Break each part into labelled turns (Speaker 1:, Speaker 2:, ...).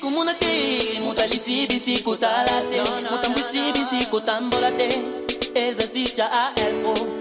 Speaker 1: komona te motalisi bisi kotala te motambwisi bisi kotambola te eza sitya alpo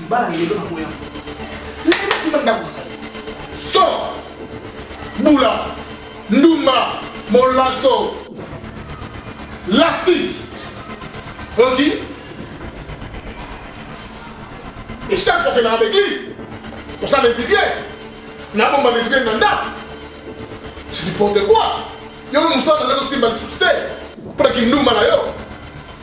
Speaker 2: libala lelo na boya ndako so bula ndumba molaso lastique oki et chaque fois que dans l'église on s'en les idées na bomba les idées nanda c'est n'importe quoi yo musala nda tosimba lisusu te mpo na kindumba na yo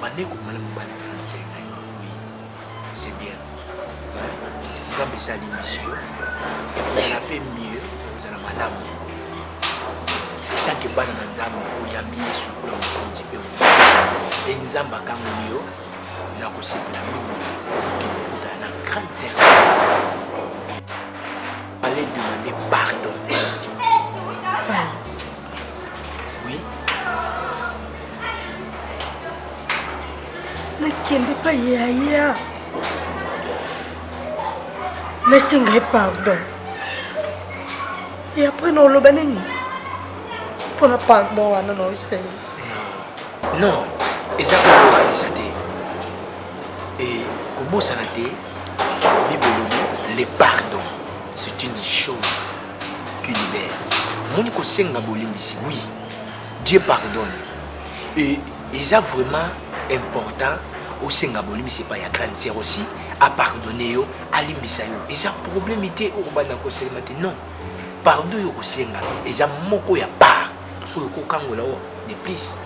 Speaker 3: bande komala
Speaker 4: mobali franse ngai oui c'est bien nzambe esali misio ekozala mpe mieux ekozala malamu tanke bana na nzambe oyambi yesu lokola mokonzi mpe mpe nzambe akangoli yo na kosepela mingi okende kokutana na grande sere ale demande pardon Oui.
Speaker 3: nakende pa yaya nasenga ye pardon e apres naoloba nini mpo na pardon wana naosenga
Speaker 4: non eza kokokanisa te e kobosana te bible elobi le pardon c'est une chose Culibert. Moni kosenga bolimbisi. Oui. Dieu pardonne. Et eza vraiment important osenga bolimbisi epai ya grande sœur aussi apardonne yo alimbisa yo eza problème te oyo kobanda koselema te non pardon oyo kosenga eza moko ya part oyo kokangola oyo de plus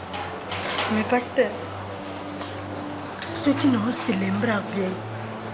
Speaker 4: mais
Speaker 3: pasteur soki naoselembra bien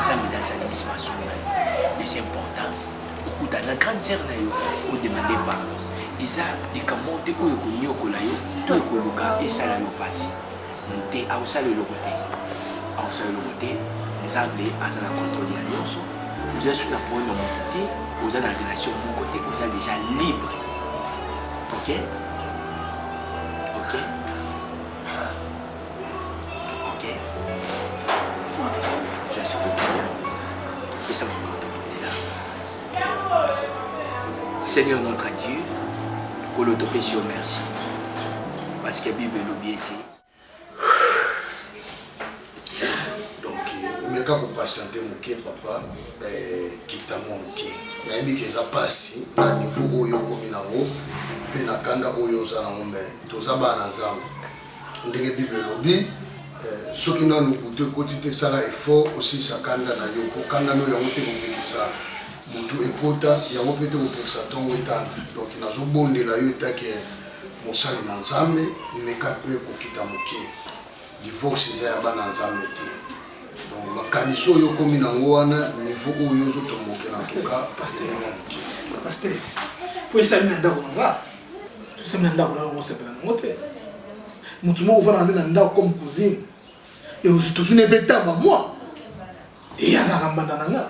Speaker 4: nzambe nde asali biso bazongi na yo plus important okuta na grande sœur na yo odemande pardon eza likambo moko te oyo ekoniokola yo to ekoluka esala yo mpasi te akosala eloko te akosala eloko te nzambe aza na controle ya nyonso oza soki na problème ya moto te oza na relation moko te oza déjà libre ok ok Seigneur notre Dieu, pour l'autopécie, merci. Parce que la Bible l'oublie.
Speaker 5: Donc, je ne peux pas sentir mon papa, quitte à mon pied. nayebi ke eza mpasi na niveau oyo okomi nango mpe na kanda oyo oza nango me toza bana nzambe ndenge bible elobi soki nanu butu ekoti te sala effort osilisa kanda na yo mpo kanda no yango te kopekisa butu ekota yango mpe te kopekisa ntongo etana donc nazobondela yo etake mosali na nzambe meka mpe kokita moke divorce eza ya bana nzambe te donc makanisi oyo okomi nango wana niveau oyo ozotombokela ntoka elema moke
Speaker 2: paster mpo esali na ndako na nga Sami na ndako na yo osepela na yango te. Motu moko ofandaka nde na ndako comme cousine. Et je toujours ne peux tamba moi. Et azalaka mbanda na nga.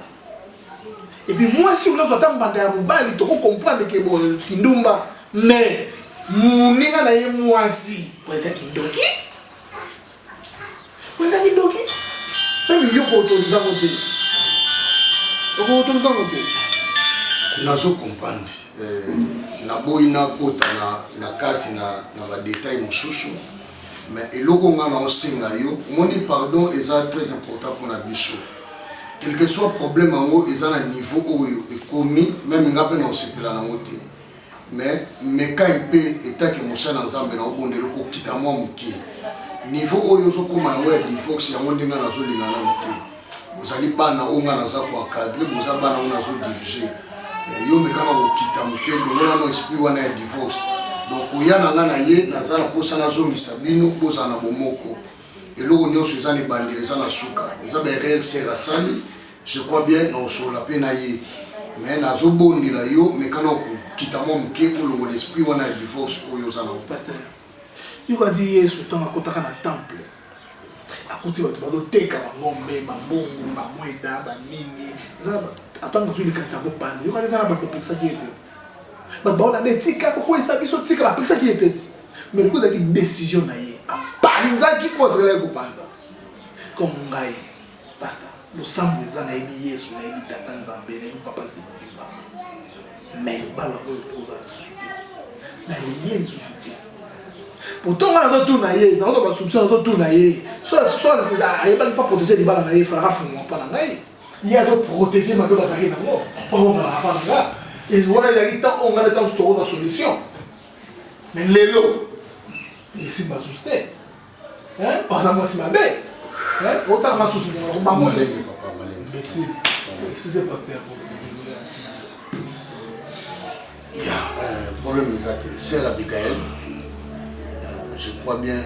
Speaker 2: Et puis moi si olazwa ata mbanda ya mobali toko comprendre ke bo kindumba mais moninga na ye mwasi oza kindoki Oza kidoki. Meme yo koautoriza ngo te. Okoautoriza ngo te.
Speaker 5: Nazo comprendre. Euh, naboyi nakota na, na kati na, na badetail mosusu mais eloko ngai naosenga yo omoni pardon eza très important mpona biso quelque soit problème yango eza na niveau oyo ekomi meme ngai mpe naosepela nango te mais meka mpe etake mosala nzambe na obondeli okokita mwa moke niveau oyo ozokoma yango ya divorce yango ndenge nazolinga nano te bozali bana oyo nga naza koakadre boza bana oyo nazodirige eh, yo mekaka kokita moke longolano esprit wana ya divorce donc koya na nga na ye naza na mposa nazongisa bino bozala na bomoko eloko nyonso eza na ebandeli eza na suka eza baerreur ser asali Je crois bien na osolola pe na ye mais nazo bondela yo meka na okokita mwa moke olongola esprit wana ya divorce oyo oza nango. Pasteur,
Speaker 6: yo kati Yesu ntango akotaka na temple akuti bato bazoteka bangombe, bambongo, bamweda, banini atanga azwi likanisi ya kopanza yo kati eza na bato opekisaki ye te bato baona nde tika kokweyisa biso tika bapekisaki ye mpe te mais lokola ezalaki décision na ye apanzaki oyo azakalaki kopanza comme ngai Pasta, losambo eza nayebi Yesu, nayebi Tata Nzambe, nayebi Papa Simoni Mbama. Mais libala oyo mpo oza lisusu te. Nalingi ye lisusu te. Pourtant nga nazotuna ye, nazo ba soupçon nazotuna ye. So so ayebaki mpa protéger libala na ye, falaka fungwa mpa na ngai. Ye azo protéger mabe bazalaki nango, mpo akomalaka mpa na nga. Et wana ezalaki temps oyo nga na temps tokozwa solution. Mais lelo, esi bazuste. Hein? Oza mwasi mabe. Hein? Otala nga susu ndenge bango ndenge papa malembe. Merci. Excusez pasteur.
Speaker 5: Ya, euh, problème eza te. Sœur Abigail, euh, je crois bien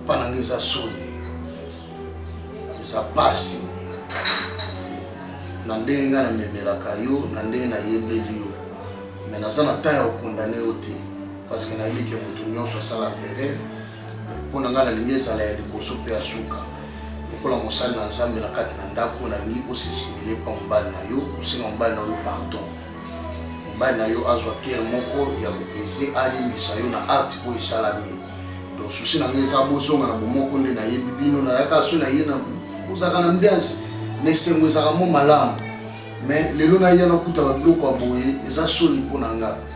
Speaker 5: pas na ngai eza soni eza pasi na ndenge ngai namemelaka yo na ndenge nayebeli yo me naza na temps ya kokondane yo te parce que nayebi ke moto nyonso asalaka erreur mpo na ngai nalingi ezala ya liboso mpe ya suka lokola mosali na nzambe na kati na ndako nalingi osesimile mpa mobali na yo osenga mobali na yo pardon mobali na yo azwa kere moko ya kopese alimbisa yo na arte oyo esalami donc susi na ngai eza bozonga na bomoko nde nayebi bino nayaka so na ye na ozalaka na mbiansi na esengo ezalaka mo malamu mais lelo nayana okutaka biloko ya boye eza soni mpo na ngai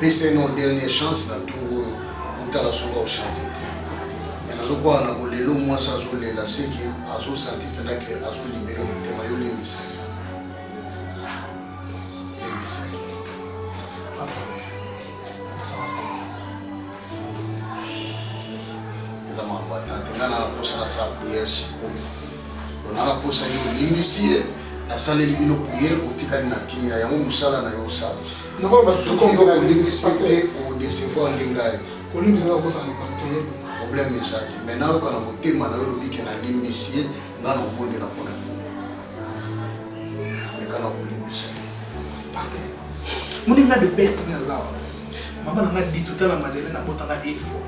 Speaker 5: pesa no dernier chance na tour oyo otala soki ochange te me nazokwaka na bolelo mwasi azolela seke azosanti mpena ke azolibere motema yo lembisa ye lembisa ye eza makambo atante ngai na naposa nasala priere sikoyo ona naposa ye olimbisi ye nasaleli bino priere otikali na kimia yango mosala na yo osala Nako ba tout comme ko limbisa te ou décevoir lingai. Ko limbisa na ko sana ko toyebi. Problème eza te. Mais na ko na motema na yo lobi ke na limbisi nga na obondela mpo na bino. Meka na ko limbisa.
Speaker 6: Pasteur. Moni nga the best nga zawa. Mama na nga dit tout à la Madeleine na botanga une fois.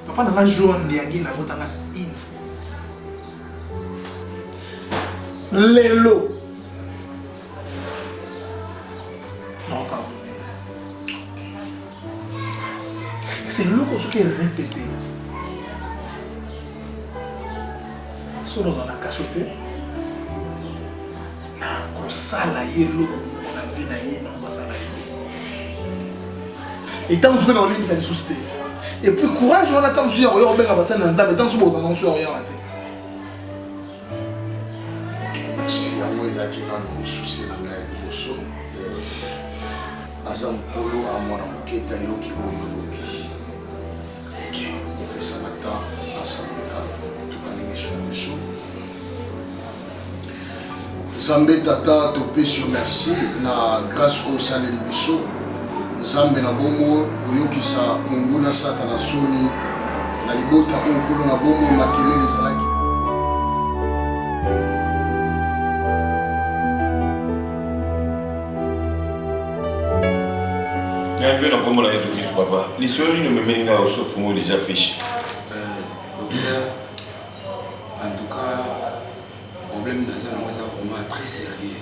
Speaker 6: Papa na nga Joan Ndiangi na botanga une fois. lelo Non, pardon. C'est l'eau ce qui est répété. Solo dans la cachotée. nakosala ye eloko moko na vie na ye nao basala ye te etango soki na olingisa lisusu te epuis courage wana ntango mosusu ya koya kobenga basali na nzambe ntango mosusu bozala mosusu ya koyaka te
Speaker 5: Merci, yango ezalaki nanu souci na ngai liboso. Aza mokolo a mwana moketa yoki oyo olobi. Ok, opesana temps asambela tokani miso ya biso. Nzambe tata topesi yo merci na grâce oyo osaleli biso. Nzambe na bongo koyokisa monguna Satana soni na libota oyo nkolo na bongo makelele ezalaki
Speaker 7: ngai mpe na nkombo na yesu kristu papa lisolo nini omemeli ngai osofungo deja fiche docteur
Speaker 8: en tout cas problème naza nango eza vraiment très sérieux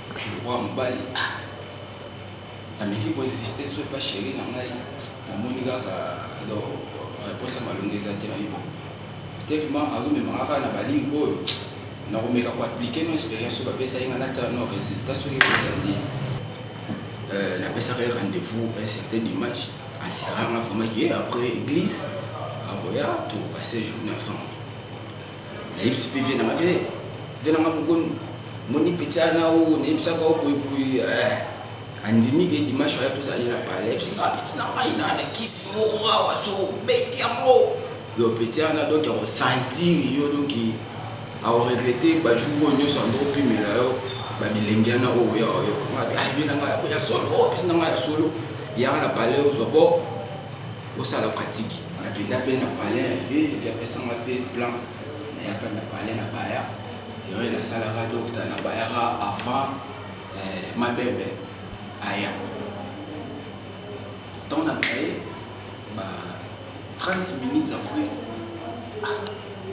Speaker 8: Wa mobali ah nameki ko insister soit pas chérie na ngai namoni kaka donc réponse ya malonga eza te nayebi tellement azomema kaka na baligne oyo nakomeka koaplike no expérience oyo bapesa ye ngai natala no résultat soki ekozandi euh, napesaka ye rendez-vous un certain dimanche asiranga vraiment ke après église akoya topasse journée ensemble nayebisi mpe vie na nga vie vie na nga mogondo moni pita na o nayebisaka o boyeboye eh, andimi ke dimanche aya tozali na pale ayebisi nga peti na ngai na na kisi moko awa azobeti yango yo peti wana donk akosantire yo donk aoregrete bajour oyo nyonso andokopimela yo babilengi wana oyo ya oyo ayebi na ngai ya solo opesi na ngai ya solo yanga na pale ozwa bo Osala pratique. Nakenda pe na palais ya ville, vie apesanga pe plan. Naya pe na palais na baya. Ewe nasalaka docteur na bayaka avant eh, mabebe aya. Temps na baye, ba 30 minutes après, ah,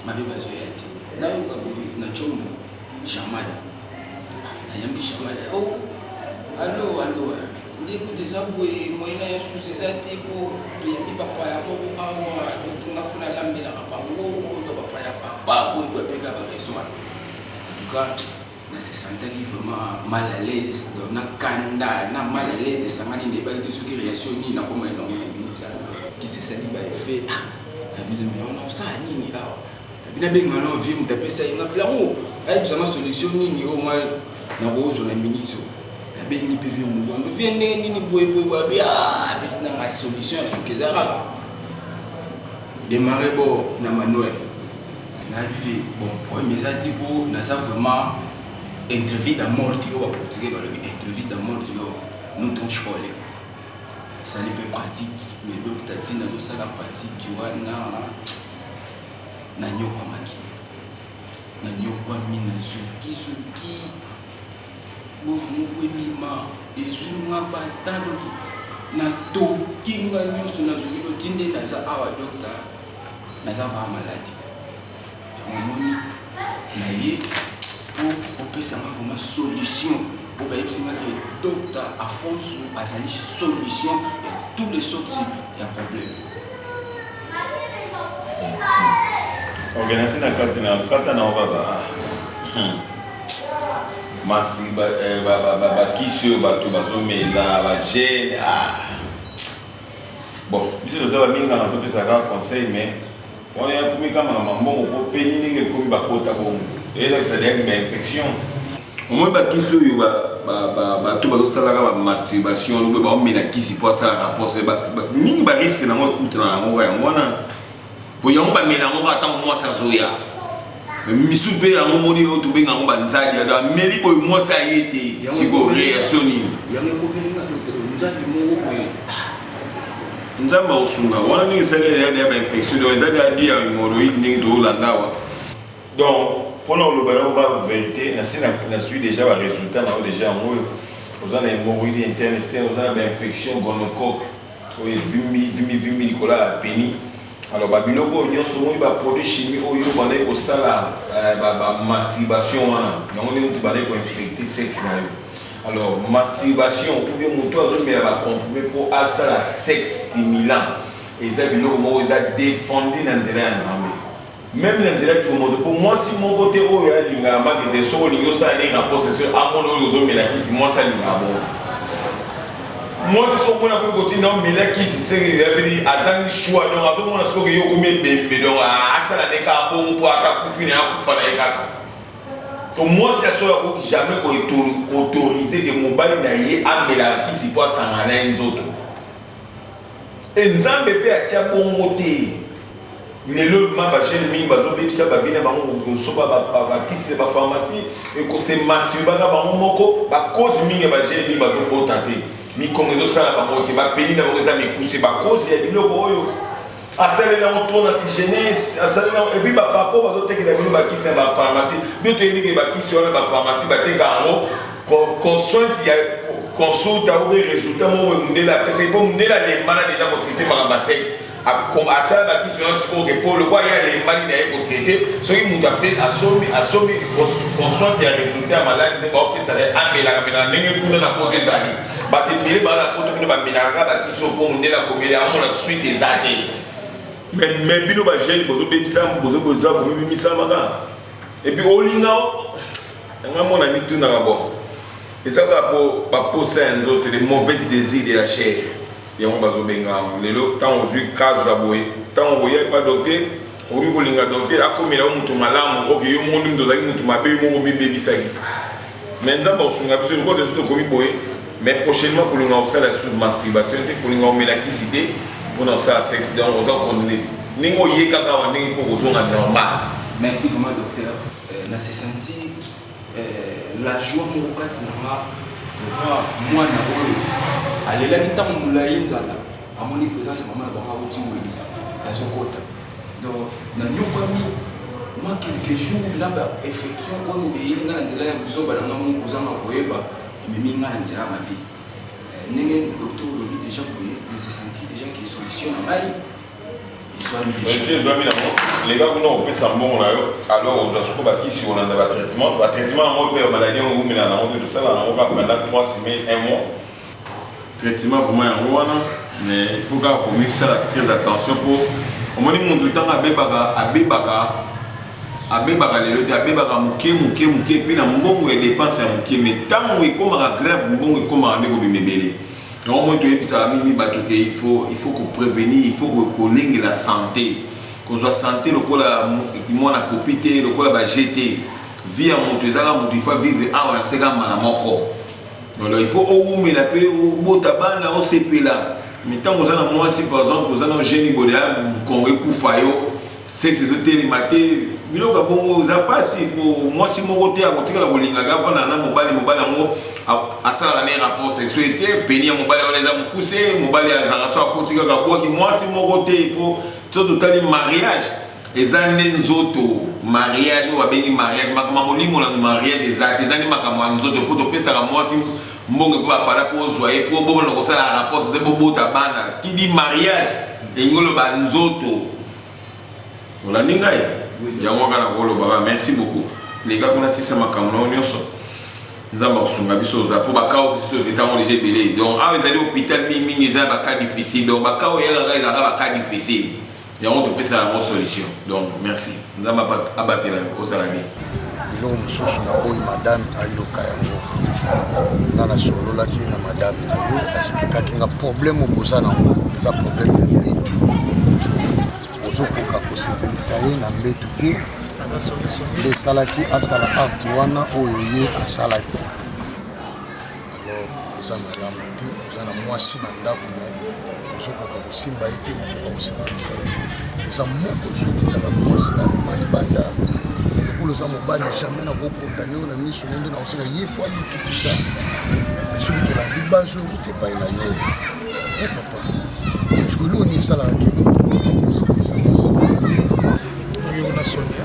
Speaker 8: mabebe azoya te. Nayoka boye na chombo, Jamali. Nayambi Jamali, oh, allo, allo, eh. Nde kutu eza boye moyen na ya sous eza te po toyebi ba paya moko awa donc nga faut nalambelaka bango to ba paya papa boye boye apeka ba raison wana en tout cas na se sentaki vraiment mal à l'aise donc na kanda na mal à l'aise esangani ndebaki te soki réaction nini nakoma elongo na minute ya kisesani ba effet ah na biso wana osala nini awa Bina benga no vie mutu apesa ye nga plango ayi bisanga solution nini oyo nga na kozo na minute oyo na bengi pe vie mutu ndo vie ndenge nini boye boye boye abi ah apesi na nga solution ya shuka eza kaka demarre bo na manuel na vie bon oyo mais eza te po naza vraiment entrevue da morti oyo ba portugais balobi entrevue da morti oyo nous ton chole esali pe pratique mais donc tatine azosala pratique wana nanyokwamaki nanyokwami na zukizuki bomoko ebima ezwi nga batano na toki nga nyonso nazwaki lotinde naza awa dokta naza baa maladi omoni na ye mpo opesa nga vraimen solution mpo bayebisi nga ke dokta afonso azali solution ya tous les sorti ya problème
Speaker 7: ok nasi na kati na kata na obaba ah. hmm. masi bakisi eh, oyo bato bazomela bagene ah. bon biso toza baminganga topesaka conseil mais wana yakomi kama na mambongo mpo peni ndenge ekomi bakota bongo eyelakisa deya bainfection omoi bakisi oyo bato bazosalaka bamasturbation lobe baomela kisi mpo asalaka mposa mingi bariske nango ekutana na yango yango wana mpo yango bamela yango kaka ntango mwasi azoya misu mpe yango moni oyo tobenga yango banzadi ado ameli boye mwasi aye te siko reaction nini nzambe akosunga wana ndenge esali ya bainfection donc ezali abi ya hemoroïde ndenge tolanda awa Donc pona oloba na ba verite na si na suis déjà ba résultats na déjà yango oza na hémorroïde interne externe oza na ba infection gonocoque oyo vimbi vimbi vimbi likola ya peni alors ba biloko oyo nyonso omoni ba produit chimie oyo obandaki kosala euh, ba masturbation wana yango nde moto bandaki koinfecte sexe na yo alors masturbation ou bien moto azomela ba comprime mpo asala sexe stimulant eza biloko moko eza defendi na nzela ya nzambe Meme na nzela tshombo te po mwasi moko te oyo alinga na mbate te soki olingi osala naye rapport sexuel amona oyo ozo mela kisi mwasi alingaka bongo mwasi soki omona akomi kotinda omela kisi seke yabeli azangi choix donc azo mona soki yo okomi ebembe donc asala ne kaka bongo po ata kufi na ye akufa na ye kaka to mwasi ya solo akoki jamais ko autoriser ke mobali na ye amelaka kisi po asangana na ye nzoto Et nzambe pe atia bongo te lelo ma ba jeune mingi bazo bebisa ba vie na bango kosoba ba kisi ba pharmacie et ko se masturba na bango moko ba cause mingi ya ba jeune mingi bazo bota te mikongo ezo sala bango te ba peli na bango eza mikuse ba cause ya biloko oyo asaleli yango trop na jeunesse asaleli yango epuis bapapa oyo bazotekela bino bakisi na bapharmacie bino toyebi ke bakisi wana bapharmacie bateka yango consunt ya consulta ou resultat moko boye mundele apesaki mpo mundele alembana deja kotraite makambo ya sexe asala bakiso nyonso sikoyo ke mpo lokwa ye alembani na ye kotraite soki moto ape asombi asombi consunt ya resultat ya maladi nde baopesaka ye amelaka mela na ndenge kuna na poto ezali bato ebele baa na poto kuna bamelaka kaka bakiso mpo mundele akomeli yango na suite eza te me bino bajeune bozobebisa bozoboza komibimisamaka epuis olinga Nanga mona mitunaka bon eza kaka po baposa ya nzoto les mauvaises désirs de la chair yango bazobenga yango lelo ntango ozwi kazo ya boye ntango okoya epa dote okomi kolinga dote akomela yo moto malamu oke yo moko nde moto ozalaki moto mabe yo moko omibebisaki me nzambe akosunga biso lokola esu tokomi boye mais prochainement kolinga kosala lisusu masturbation te kolinga komela kisi te mpona kosala sexe donc oza kondamne ndenge oyekaka awa ndenge mpo kozonga normal merci vraiment
Speaker 8: docteur na se sentir la joie moko kati na nga lokwa mwana oyo alelaki ntango molai nzala amoni présence ya mama na bango akuti welisa azokota donc nanyokwami mwa quelque jour na ba effection oyo eyeli ngai na nzela ya buzoba na ngai moko kozanga koyeba ememi ngai na nzela mabe ndenge docteur olobi déjà boye na se sentir déjà ke solution na ngai Monsieur ezwami nango
Speaker 7: leka kuna opesa mbongo na yo alors ozwa soko bakisi olanda batraitement batraitement yango mpe ya maladi yango ewumela nango mpe tosala nango kaka banda 3 semaine 1 mois traitement vraiment yango wana mais il faut kaka komisala très attention mpo omoni motu ntango abebaka abebaka abebaka lelo te abebaka moke moke moke mpe na mbongo ya dépense ya moke mais ntango ekomaka grave mbongo ekomaka nde kobima ebele yango moi toyebisaka mingi bato ke il faut il faut ko prévenir il faut kolengela santé kozwa santé lokola mwana popi te lokola ba gt vie ya moto ezaka moto il faut vivre awa na seka mbala moko donc il faut owumela mpe obota bana osepela mais ntango oza na mwasi par exemple oza na geni bodeya mokongo ekufa yo Sexe ezo telema te biloko ya bongo eza pasi po mwasi moko te akotikala kolingaka afanda na mobali mobali yango asalaka ne rapport sexuel te peni ya mobali wana eza mokuse mobali azalaka so akoti kaka bwaki mwasi moko te po so totali mariage eza nde nzoto mariage oyo babengi mariage makambo ya molimo na mariage eza te eza nde makambo ya nzoto mpo topesaka mwasi mbongo mpo bapara mpo ozwa ye mpo bobona kosala rapport eza bobota bana kidi mariage elingi oloba nzoto olandi ngai yango kaka na kolobaka merci beaucoup leka kuna sisa makambo na yo nyonso nzambe akosunga biso oza mpo bakao biso etango deja ebele donc awa ezali hôpital mingi mingi eza bacas difficile donc bakao eyaka kaka ezalaka bacas difficile yango topesaka yango solution donc merci nzambe abatela ozala bien biloko
Speaker 5: mosusu naboyi madame ayoka yango nga nasololaki na madame na yo asplikaki nga problème okoza nango eza problème ya mbetu ozokoka kosepelisa ye na mbetu te nde esalaki asala acte wana oyo ye asalaki alors eza malamu te oza na mwasi na ndako me ozokoka kosimba ye te okoka kosepelisa ye te eza moko ezotindaka mwasi akoma libanda lokola oza mobali jamai nakokondane oyo na miso ne nde nakoseka ye fo amikitisa me soki tolandi bazo euti epai na yo e papa soki loni esalaka te osepelisa
Speaker 6: mwasi yo na sonia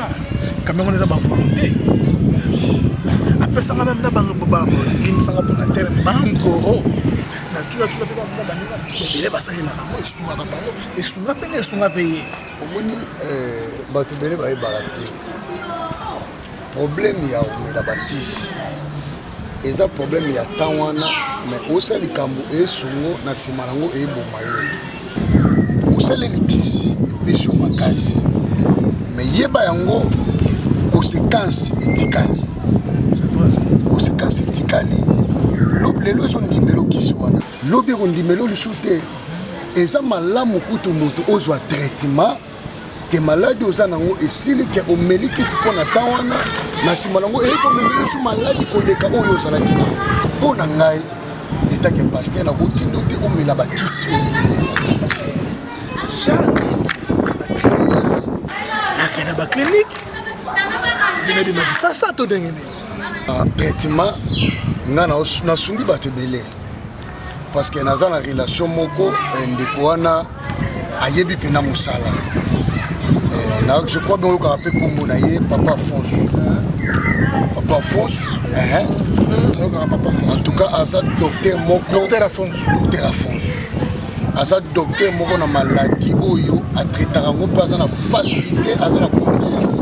Speaker 6: kamera wana eza ba volonté apesanga meme na balimbisanga mpona tere bankoro natunatuna mpe bamona baninga ebele basalelaka yango esungaka bango esunga mpe na esunga mpe ye omoni eh,
Speaker 5: bato ebele bayebaka te problème ya komela bakisi eza problème ya temps wana mais osala likambo esungo na nsima yango eboma yo osali litisi epesi yo makasi mais yeba yango conséquence etikali conséquence etikali lelo ezondimela okisi wana lobi ekondimela lisusu te eza malamu kutu moto ozwa traitement ke maladi oza nango esili ke omeli kisi mpo na temps wana na nsima nango eyei komemelisu maladi koleka oyo ozalaki nango mpo na ngai etake paster nakotindo te omela bakisi
Speaker 6: chaque akenda baclinike ndenge bimakisa sa to ndenge nini ah, traitement
Speaker 5: ngai nasungi bato ebele parce que naza na relation moko eh, ndeko wana ayebi mpena mosala eh, je crois bien oyokaka mpe nkombo na ye papa fonce papa fonce eh, en tout cas aza docteur moko docteur afonce aza docteur moko na maladie oyo atraitaka yango mpe aza na facilité aza na connaissance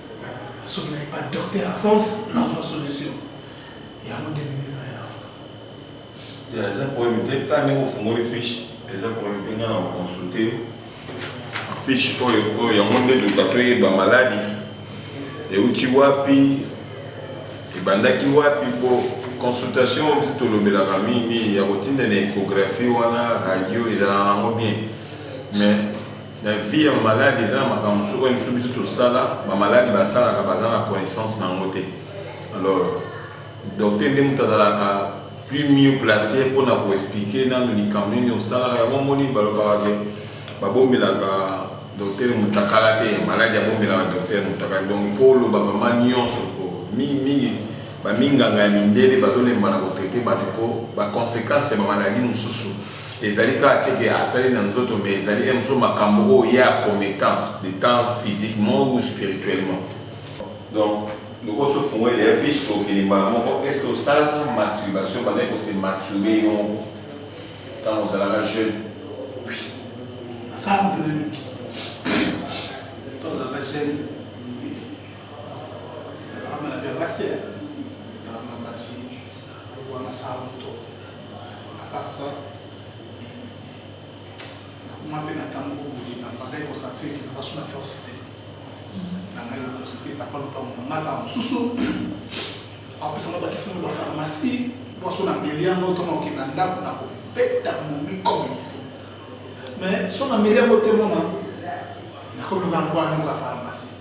Speaker 6: Soki na epa docteur Alphonse
Speaker 7: na kozwa solution. Yango nde mimi na ya. Ya eza problème te ka ndenge ofungoli fiche eza problème te nga na consulter yo. Fiche oyo oyo yango nde luka toyeba maladi euti wapi ebandaki wapi po consultation oyo tolobelaka mingi mingi ya kotinda na échographie wana radio ezalaka nango bien mais Na vie ya malade eza na makambo mosusu oyo biso biso tosala ba malade basalaka baza na connaissance na yango te alors docteur nde moto azalaka plus mieux place mpo na koexplike nano likambo nini osalaka yango omoni balobaka te babombelaka docteur motakala te maladi abombelaka docteur motakala donc ifo oloba vraimen nyonso po mingimingi baminganga ya mindele bazolemba na kotraite bato mpo baconsequence ya bamaladi mosusu Ezali kaka te ke asali na nzoto mais ezali na mosusu makambo oyo ye a commettant etant physiquement ou spirituellement. Donc ndeko osi ofungoli dejà fiche tokende mbala moko, est ce que osalaka masturbation obandaki ko se masturber yo moko tango ozalaka jeune? Oui nasalaka
Speaker 6: yango penza mingi tango nazalaka jeune nazalaka malade ya basi hein. Aloba na sala moto a part ça na koma pe na tango oyo boye na bandaki ko sentir que naza sous la force te na ngai lokosi te papa lopango na ngai kaka mosusu apesa nga bakisi ngo ba pharmacie mwaso na melia ngo to na okenda ndako na ko beta momi comme il faut Mais son ameli yango te mona nakoluka yango anyoka pharmacie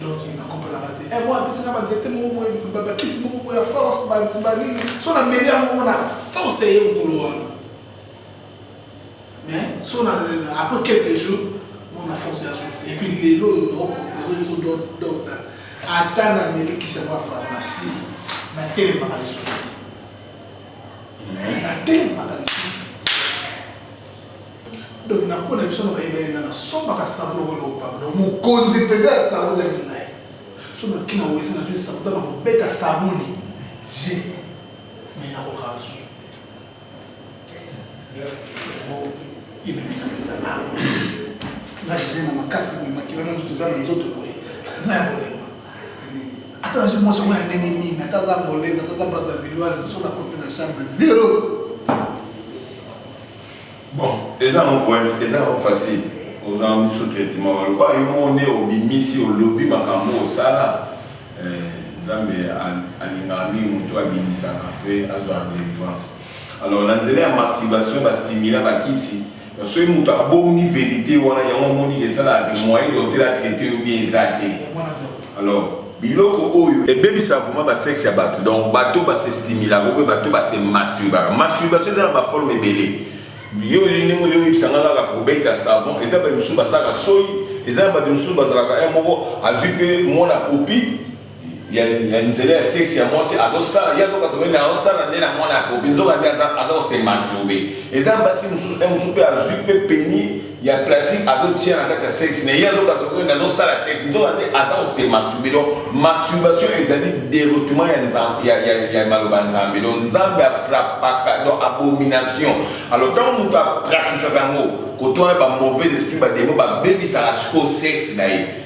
Speaker 6: donc nakomprenaka te eh, mwa apesi na banzete moko boye bakisi moko boye ya force banini son ameli yango mona force eye mokolo wana mais son après quelques jours mona force ya sote epuis lelo oyo naozo docta ata namelikisi yango ya pharmacie natelemaka lisusu natelemaka lisusu donc nakona biso na bayeba yenga nasombaka sablo oyo lopablo mokonzi mpenza ya sablo ezali na ye so nakoki na wese nazwi sablo to na kobeta sabuni je me nakokaka lisusu imemeka mpenza ngai je na makasi boye makila na nzoto eza na nzoto boye eza ya kolenga Ata nazwi mwasi yango ya ndenge nini, ata aza angolaise, ata aza brazzavilloise, soki nakoti na chambre zero.
Speaker 7: Bon, eza yango point, eza yango facile. Oza yango sous traitement, baloba yo moko nde obimisi, olobi makambo osala. Eh, Nzambe alingaka mingi moto abimisaka mpe azwaka délivrance. Alors na nzela ya masturbation, bastimula bakisi Mais soki mutu abombi verite wana yango amoni ke esalaka ke moyen docteur a traiter yo bien eza te alors biloko oyo ebebisaka vraiment ba sexe ya batu donc batu ba se stimulaka ou bien batu ba se masturbaka masturbation eza na ba forme ebele yo oyebi ndenge ozo yebisa nga kaka kobeta savon eza batu misusu basalaka soyi eza na batu misusu bazalaka heure moko azui pe mwana popi ya ya nzela ya sexe ya mwasi azosala ye azoka soki na azosala nde na mwana ya kopi nzoka nde aza aza kose masturbe eza basi mosusu e mosusu mpe azwi mpe peni ya plastique azotia na kati ya sexe na ye azoka soki na azosala sexe nzoka nde aza kose masturbe donc masturbation ezali deroutement ya nzambe ya, ya, ya maloba ya nzambe donc nzambe afrapaka donc abomination alors ntango moto apratikaka yango koto wana bamauvais esprit bademo babebisaka sikoyo sexe na ye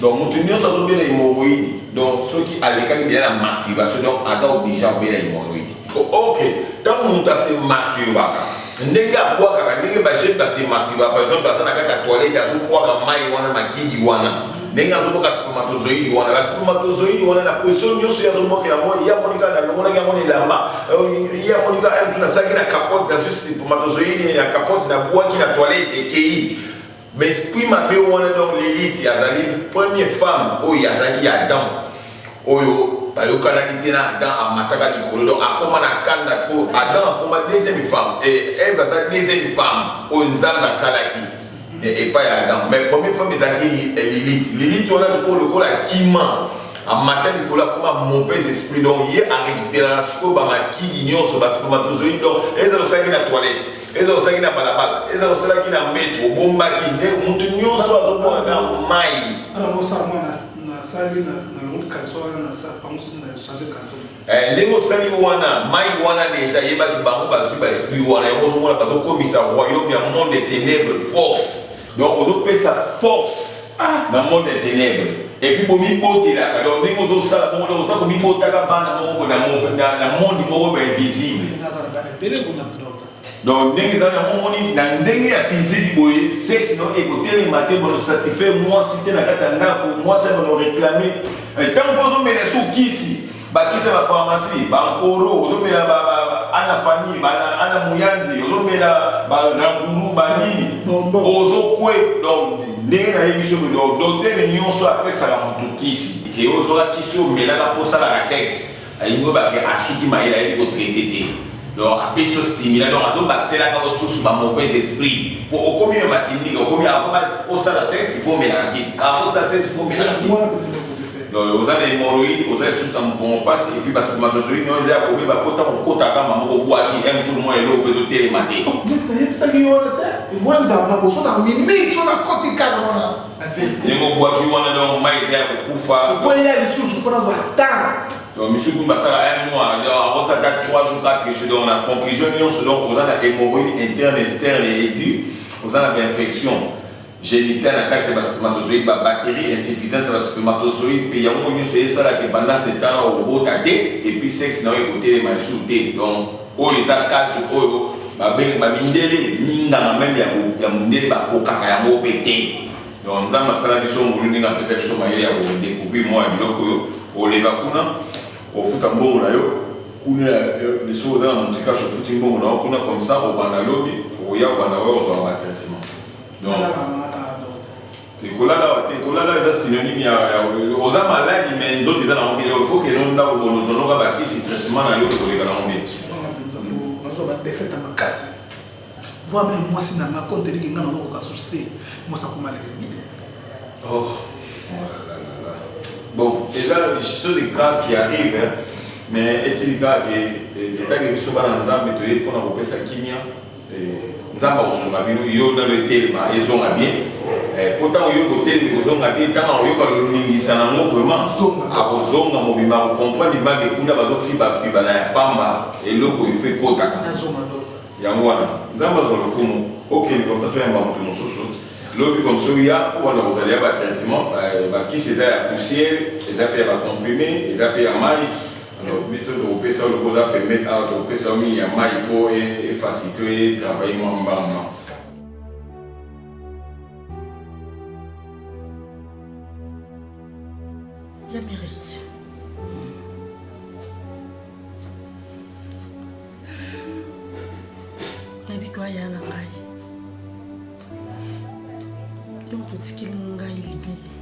Speaker 7: donc moto nyonso azobela hémorroïde donc soki alekaki deja na masturbation donc aza oblige abela hémorroïde ok ntango moto ase masturbaka ndenge abwakaka ndenge bajene base masturbaka par exemple aza na kati ya toilette azobwaka mai wana makidi wana ndenge azobwaka spermatozoïde wana ba spermatozoïde wana na position nyonso ye azobwakela yango ye amonika na longolaki yango na elamba euh, ye amonika eh, nazalaki na capote nazwi spermatozoïde na capote nabwaki na toilette ekei Ba esprit mabe wana donc Lilith azali premier femme oyo azalaki ya Adam oyo bayokanaki te na Adam amataka likolo donc akoma na kanda po Adam akoma deuxième femme et Eve aza deuxième femme oyo Nzambe asalaki mais epai ya Adam mais premier femme ezalaki Lilith Lilith wana lokola lokola akima amata likolo akoma mauvais esprit donc ye arecuperaka sikoyo bamakili nyonso basikomatozoi donc ezala osalaki na toilette ezala osalaki na balabala ezala osalaki na mbetu obombaki nde motu nyonso azokona na mai eh, ndenge osali wana mai wana deja yebaki bango bazwi baesprit wana yango ozomona bazokomisa royaume ya monde de ténèbre force Donc ozo pesa force ah. na monde ya tenebre et puis bomi botelaka donc ndenge ozo sala bongo donc oza komi botaka bana moko na na monde moko ba invisible donc ndenge eza na momoni na ndenge ya physique boye sexe no ekotelema te bono satisfaire mwasi te na kati ya ndako mwasi ya bono réclame ntango mpo ozomela sukisi Bakisa ba pharmacie, ba nkoro, ozo mela ba ba ana famille, ba ana muyanzi, ozo mela ba ranguru, ba nini. Bonbon. Ozo kwe donc ndenge na yebi soki donc docteur nionso apesaka mutu kisi ke ozwaka kisi oyo omelaka po osalaka sexe alingi oyeba ke asuki mayele ayebi ko traite te donc apesi yo stimulant donc azo bakiselaka yo susu ba mauvais esprit po okomi na matindika okomi avant ba osala sexe il faut omelaka kisi avant osala sexe il faut omelaka kisi. Donc oza na hemorroïde, oza lisusu na mukongo pasi et puis ba spermatozoïde oyo eza ya kobeba po tango okota ata mbanga moko obwaki un jour mwa eloko mpe ezotelema te. Donc neti
Speaker 6: nayebisaki yo wana te ewa nzamba boso na mimi so na
Speaker 7: koti kaka wana na WC. Ndenge obwaki wana donc mayi eza ya kokufa. Po eya lisusu fo
Speaker 6: nazwa temps. Donc misusu kutu
Speaker 7: basala un mois donc akosala ata trois jours quatre jours donc na conclusion nionso donc oza na hemorroïde interne, externe et aigu oza na ba infection. Genitale na kati ya ba spermatozoïde, ba bacteries, insuffisance ya ba spermatozoïde pe yango nioso esala que pendant ce temps là okobota te et puis sexe na yo ekotelema lisusu te donc oyo eza cas oyo ba benga ba mindele, minganga meme ya ko ya mundele ba kokaka yango pe te donc nzambe asala biso ngolu ndenge apesa biso mayele ya ko decouvrir mua biloko oyo oleka kuna ofuta mbongo na yo kuna ya eh, soki oza na montrikache ofuti mbongo na yo kuna comme ça obanda lobi okoya obanda oya ozua ba traitement. ekolala awa te ekolala eza synonyme ya oza maladi me nzoto eza nango bino faut keno ndako bonozonoka bakisi traitement na yo ekoleka nango bino nazwa
Speaker 6: badefete makasi voi me mwasi na nga konteliki nga nango kokasusi te mwasi akoma lezimi te oh,
Speaker 7: bon eza sur les graves qui arrive mais etili kaka ke etake biso bana nzambe toye mpona kopesa kimia Nzambe akosunga bino yo nalo etelema ezonga bien eh, po ntango yo kotelemi kozonga bien ntango akoyoka lolingisa na ngo vraiment akozonga mobimba akokomprendre libange kuna bazofiba fiba na ya pamba eloko ifo ekotaka yango wana nzambe azwa lokumu okende komsa toyamba moto mosusu lobi komsa oya wana kozala ya batraitement eh, bakisi eza ya poussière eza mpe ya bacomprime eza mpe ya mai Donc biso toko pesa yo lokola oza pembeni awa toko pesa yo mingi ya mayi po e facilite yo e travailler mwa mbanga mbanga kosala.
Speaker 3: Ya Merisi. Nayebi que oya na ngai. donc otikeli ngai libele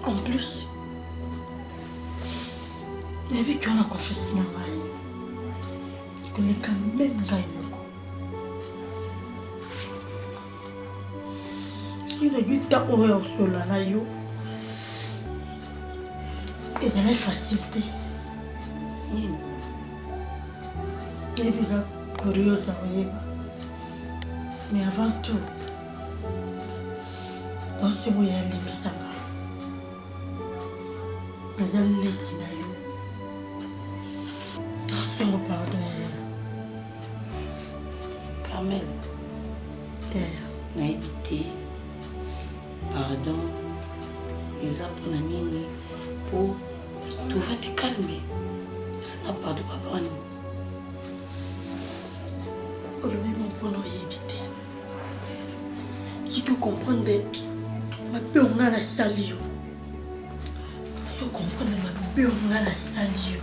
Speaker 3: en plus nayebi ke wana confiance na ngai koleka meme ngai soki nayebi ntango oyo ya kosolola na yo ezalaki facile te nini nayebi nga curieuse akoyeba mais avant tout danse oyo yalimbisanga naza leki na yo danse oyo pardon
Speaker 9: Carmel. Yaya. Nayebi te. Pardon. Eza mpona nini mpo tovandi calme osenga pardon papa wani
Speaker 3: olobi mompona oyebi te soki okomprendre mabe onga nasali yo soki okomprendre mabe onga nasali yo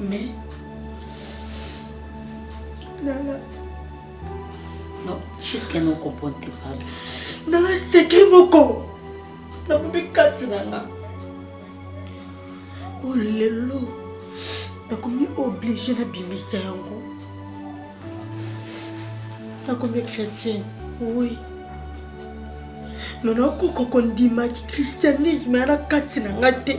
Speaker 3: Mais
Speaker 9: Nana. Non, jusqu'à nous comprendre tes paroles. Nana,
Speaker 3: c'est qui mon con La poupée Kati Nana. Oh lelo. Nakomi obligé na bimisa yango. Nakomi chrétienne. Oui. Mais nakokoka kondima ki christianisme yana kati na nga te.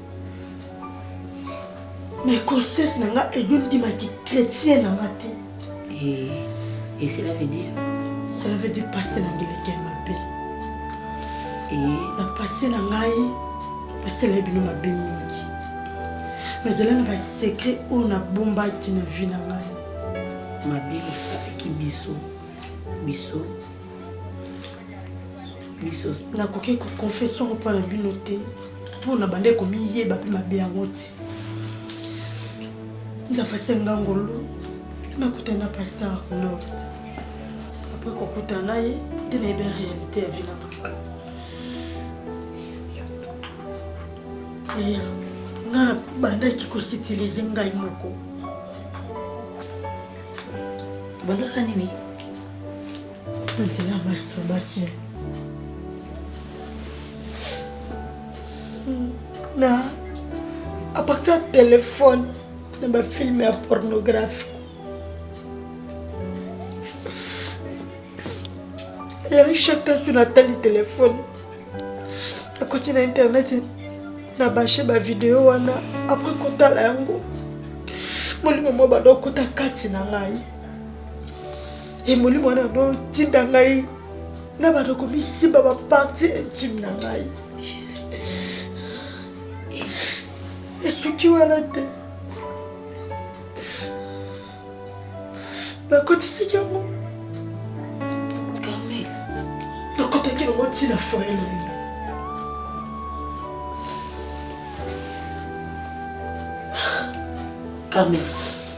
Speaker 3: Mais conscience na nga ezo ndima ki chrétien na nga te. Et,
Speaker 9: et cela veut dire Cela veut dire passé na ngeleke
Speaker 3: mabe. Et na passé na ngai basala bino mabe mingi. Nazala na ba secret oyo nabombaki na vie na ngai. Mabe
Speaker 9: basalaki biso biso
Speaker 3: biso nakoki koconfese yango mpo na bino te mpo na bande komiyeba mpe mabe yango te nzambe asenga ngolu nakutana na pasteur nord apres kokutana na ye nde nayebi réalité ya vilanga ya nga nabandaki kositilize ngai moko
Speaker 9: bandasa nini na
Speaker 3: à partir ya telefone na bafilme ya pornographique yangi chaque nsu natali telefone akoti na internet na bashe bavideo wana apres kotala yango molimo mwa banda okota kati na ngai ye molimo wana notinda ngai na bato komisimba baparti intime na ngai esuki wana te nakotisaki yango
Speaker 9: nakotaki
Speaker 3: nango ntina foye longi
Speaker 9: Carmen.